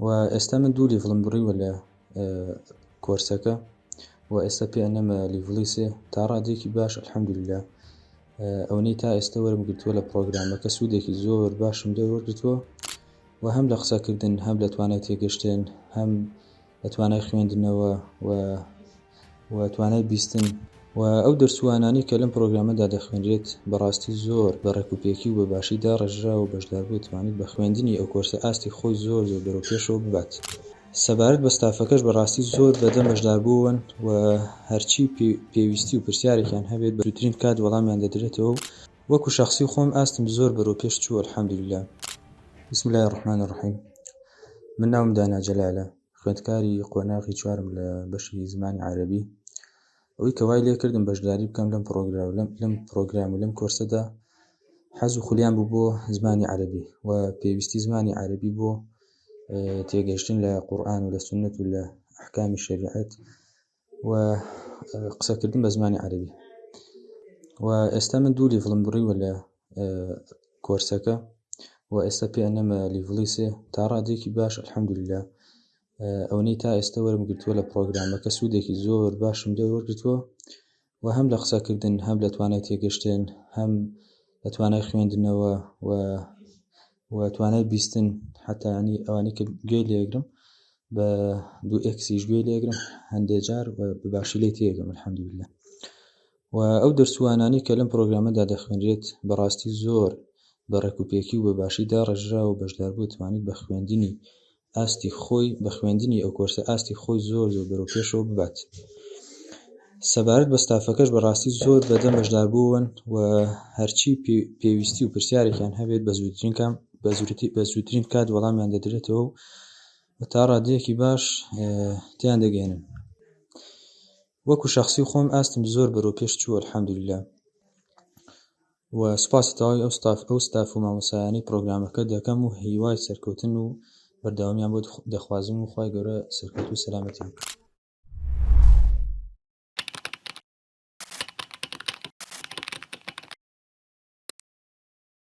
وە ئێستا من دوو لیڤڵم بڕیوە لە کۆرسەکە و ئێستا پێ ئەنەمە لیڤڵی سێ تا ڕادێکی باش الحەمدللا ئەوەی تا ئێستا وەرم گرتووە لە پرۆگرامەکە سوودێکی زۆر باشم لێ وەرگتووە و هەم لە قسەکردن هەم لە توانای تێگەشتن هەم لە توانای خوێندنەوە و و توانای بیستن و ئەو دەرچوانانی کە لەم پرۆگرامەدا دەخوێنرێت بەڕاستی زۆر بە ڕێکوپێکی و بە باشی داڕێژرا و بەشدار بوو توانیت بە خوێندنی ئەو کۆرسە ئاستی خۆی زۆر زۆر بەرەو پێشەوە ببات. سەبارەت بە ستافەکەش بەڕاستی زۆر بەدەم بەشداربوون و هەرچی پێویستی و پرسیارێکیان هەبێت بە زووترین کات وەڵامیان دەدرێتەوە و وەکو شەخسی خۆم ئاستم زۆر بەرەو پێش چوو الحمدللە. بسم اللە الرحمن الرحیم من ناوم دانا جەلالە خوێندکاری قۆناغی چوارم لە بەشی زمانی عەرەبی ئەوەی کە وای لێ کردم بەشداری بکەم لەم پڕۆگرام لەم لەم پڕۆگرام و لەم کۆرسەدا حەز و خولیان بوو بۆ زمانی عەرەبی و پێویستی زمانی عەرەبی بۆ تێگەشتن لە قورآن و لە سنت و لە ئەحکامی شەریعەت و قسەکردن بە زمانی عەرەبی و ئێستا من دوو لیڤڵم بڕیوە لە کۆرسەکە و ئێستا پێ ئەنەمە لیڤڵی سێ تا ڕادێکی باش الحەمدللا ئەوەی تا ئێستا وەرم گرتووە لە پرۆگرامەکە سوودێکی زۆر باشم لێ وەرگتووە و هەم لە قسەکردن هەم لە توانای تێگەشتن هەم لە توانای خوێندنەوە و و توانای بیستن حتانی ئەوانی کە گوێ لێگرم بە دوو ئەکسیش گوێ لێگرم هەندێک جار باشی لی تێگەم الحمدلله و ئەو دەرسوانانی کە لەم پرۆگرامەدا دەخوێنرێت بەڕاستی زۆر بە ڕێکوپێکی و بە باشی داڕژرا و بەشداربوو توانیت بە خوێندنی ئاستی خۆی بە خوێندنی ئەو کۆرسە ئاستی خۆی زۆر زۆر بەرەو پێشەوە ببات سەبارەت بە ستافەکەش بەڕاستی زۆر بەدە مەشدار بوون و هەرچی پێویستی و پرسیارێکیان هەبێت بە زووترین کام بە زووتی بە زووترین کات وەڵامیان دەدرێتەوە و تا ڕادەیەکی باش تیان دەگەێنن وەکو شخصی خۆم ئاستم زۆر بەرەو پێش چووە الحەمدللا و سوپاسی تەواوی ئەو ستاف ئەو ستاف و مامۆسایانی پرۆگرامەکە دەکەم و هیوای سەرکەوتن و بەردەوامیان بۆ دەخوازم و خوای گەورە سەرکەوتوو و سەلامەتیان بکات